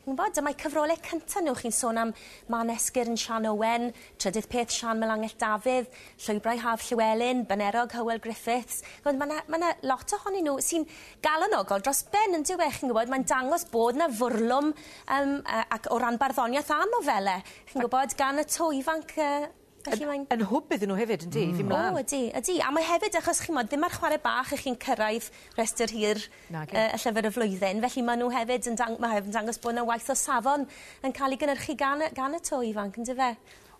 Chi'n gwybod, dyma'i cyfrolau cyntaf nhw, chi'n sôn am Mân Esgyrn Siân Owen, Trydydd Peth Siân Melangell Dafydd, Llwybrau Haf Llewelyn, Banerog Hywel Griffiths. Chimod, mae 'na, mae 'na lot ohonyn nhw sy'n galonogol dros ben, yn dyw e, chi'n gwybod, mae'n dangos bod 'na fwrlwm, yym, yy, ac o ran barddoniaeth a nofelau, chi'n gwybod, gan y to ifanc yy. Felly mae'n... Yn yn hwb iddyn n'w hefyd yndy? Hmm. Fyn mlan. O ydi ydi a mae hefyd achos chi'mod ddim ar chware bach 'ych chi'n cyrraedd rhestyr hir... Nage. ...yy y llyfr y flwyddyn felly ma' n'w hefyd yn dang- ma' hefyd yn dangos bo' 'na waith o safon yn ca'l 'i gynyrchu gan y gan y to ifanc yndyfe?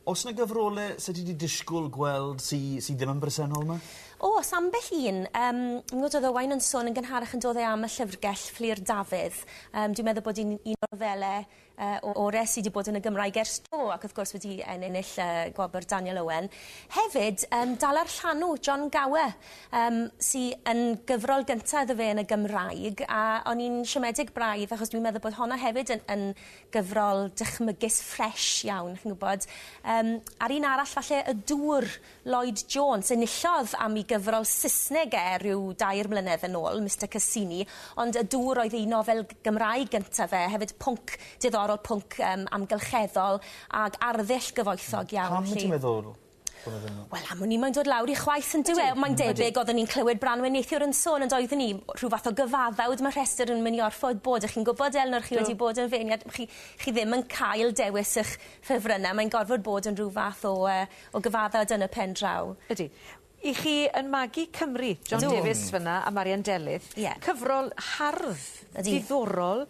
O's 'na gyfrole sa ti 'di dishgwl gweld sy sy ddim yn bresennol 'ma? O's ambell un yym m'gwd odd Owain yn sôn yn gynharach on'd odd e am y llyfrgell Fflur Dafydd yym dwi'n meddwl bod 'i'n un o nofele Yy o res i di bod yn y Gymraeg ers do ac wrth gwrs wedi ennill y gwobr Daniel Owen. Hefyd yym dala'r llanw John Gower yym sy yn gyfrol gynta iddo fe yn y Gymraeg a o'n i'n siomedig braidd achos dwi'n meddwl bod honno hefyd yn yn gyfrol dychmygus ffresh iawn chi'n gwbod. Yym a'r un arall falle y dŵr Lloyd Jones. Enillodd am i gyfrol Saesneg e rhyw dair mlynedd yn ôl, Mister Cassini, ond y dŵr oedd ei nofel Gymraeg gyntaf e, hefyd pwnc diddorol, pwnc yym amgylcheddol ag arddull gyfoethog iawn 'lly. Pam wyt ti'n meddwl bod e ddim yn... Wel am wn i mae'n dod lawr i chwaeth yndyw e? Mae'n debyg oeddwn i'n clywed Branwen neithiwr yn sôn ond oeddwn i rhyw fath o gyfaddawd ma' rhestr yn myn' i orffod bod dych chi'n gwbod Elunor chi wedi bod yn feirniad chi chi ddim yn cael dewis 'ych ffefrynne mae'n gorfod bod yn rhyw fath o yy o gyfaddawd yn y pen draw. Ydi. I chi yn magu Cymru. Ydw. John Davies fyn 'na a Marian Delyth. Ie. Cyfrol hardd. Ydi. Diddorol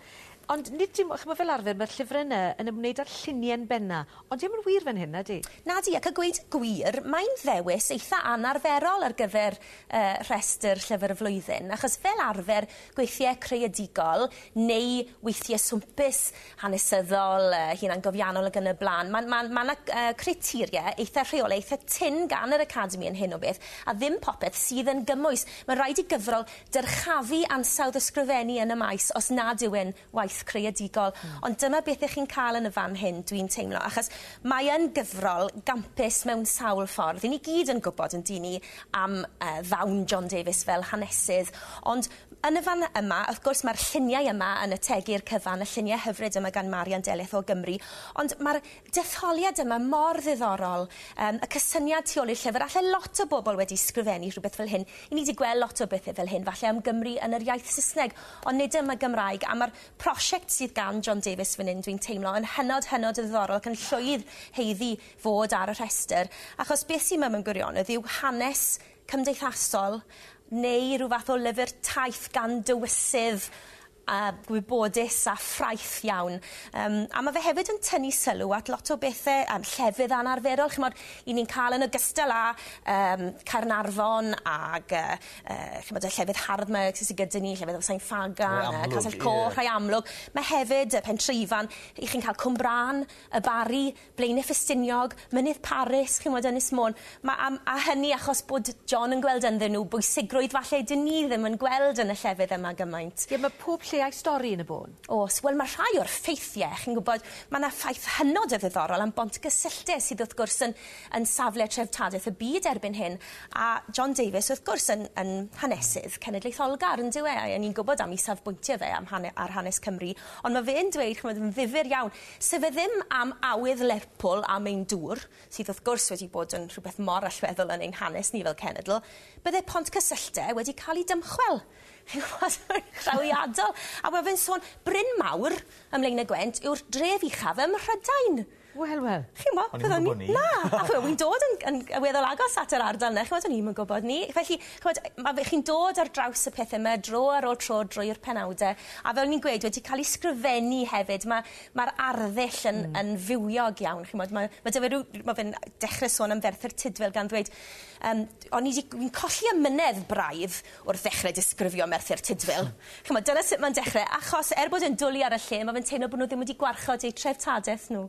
ond nid dim o ch'mo' fel arfer ma'r llyfre 'na yn ymwneud â'r llunien benna ond dio'm yn wir fan hyn nadi? Nadi ac a gweud y gwir mae'n ddewis eitha anarferol ar gyfer yy rhestr llyfr y flwyddyn achos fel arfer gweithie creadigol neu weithie swmpus hanesyddol, yy hunangofiannol ac yn y blaen. Mae'n mae'n mae yna uh, criteria eitha rheol, eitha tyn gan yr Academi yn hyn o beth, a ddim popeth sydd yn gymwys. Mae'n rhaid i gyfrol dyrchafu ansawdd ysgrifennu yn y maes os nad yw'n waith creadigol. Mm. Ond dyma beth ych chi'n cael yn y fan hyn, dwi'n teimlo, achos mae yn gyfrol gampus mewn sawl ffordd. Yn i gyd yn gwybod yn dyn ni am uh, ddawn John Davies fel hanesydd, ond Yn y fan yma, wrth gwrs, mae'r lluniau yma yn ategu i'r cyfan, y lluniau hyfryd yma gan Marian Delyth o Gymru, ond mae'r detholiad yma mor ddiddorol, yym, y cysyniad tu ôl i'r llyfr, alle lot o bobl wedi sgrifennu rhywbeth fel hyn, i ni 'di gweld lot o bethe fel hyn, falle am Gymru yn yr iaith Saesneg, ond nid am y Gymraeg, a mae'r prosiect sydd gan John Davies fan hyn, dwi'n teimlo, yn hynod, hynod o ddiddorol ac yn llwydd haeddu fod ar y rhestr, achos beth sydd yma mewn gwirionedd yw hanes cymdeithasol neu rhyw fath o lyfr taith gan dywysydd a gwybodus a ffraeth iawn. Um, a mae fe hefyd yn tynnu sylw at lot o bethau um, llefydd anarferol, chymod, i ni'n cael yn ogystal â um, Caernarfon ag uh, uh, chymod, y llefydd hardd mae sydd gyda ni, llefydd Sain Ffagan, uh, Casell Coch, yeah. rhai amlwg. Mae hefyd y Pentreifan, i chi'n cael Cwmbrân, y Bari, Blaenau Ffestiniog, Mynydd Paris, chi'n 'mod, Ynys Môn. Ma' am- a hynny achos bod John yn gweld ynddyn nhw bwysigrwydd falle 'dyn ni ddim yn gweld yn y llefydd yma gymaint. Ie, ma' pob lle a'i stori yn y bôn. Oes, wel ma' rhai o'r ffeithie, chi'n gwybod, ma' 'na ffaith hynod o ddiddorol am Bont Gysylltau sydd wrth gwrs yn yn safle treftadaeth y byd erbyn hyn, a John Davies wrth gwrs yn yn hanesydd cenedlaetholgar yndyw e, a 'yn ni'n gwybod am 'i safbwyntie fe am hane- ar hanes Cymru, ond ma' fe'n dweud, chi'n 'mod, yn ddifyr iawn, Sef e ddim am awydd Lerpwl am ein dŵr, sydd wrth gwrs wedi bod yn rhywbeth mor allweddol yn ein hanes ni fel cenedl, bydde pont cysylltde wedi cael ei dymchwel. Chi'n gwybod, mae'n drawiadol. A ma' fe'n sôn, Bryn Mawr, ym Mlaenegwent, yw'r dref uchaf ym Mhrydain. Wel, wel. Chi'n gwybod, byddwn i... O'n i'm yn gwybod 'ny. Na, achos wi'n dod yn yn weddol agos at yr ardal 'na, chi'n gwybod, o'n i'm yn gwybod 'ny. Felly, Ch'mod, ma' fe... Chi'n dod ar draws y pethe 'ma dro ar ôl tro drwy'r penawde, a fel o'n i'n gweud, wedi ca'l 'u sgrifennu hefyd. Ma' ma'r arddull yn... Hmm. ...yn fywiog iawn, chi'mod. Ma' ma' 'dy fe ryw... Ma' fe'n dechre sôn am Ferthyr Tudful gan ddweud yym o'n i 'di... Wi'n colli amynedd braidd wrth ddechre disgrifio Merthyr Tudful. Ch'mod, dyna sut ma'n dechre, achos er bod e'n dwli ar y lle, ma' fe'n teimlo bo' nw ddim wedi gwarchod eu treftadaeth nw.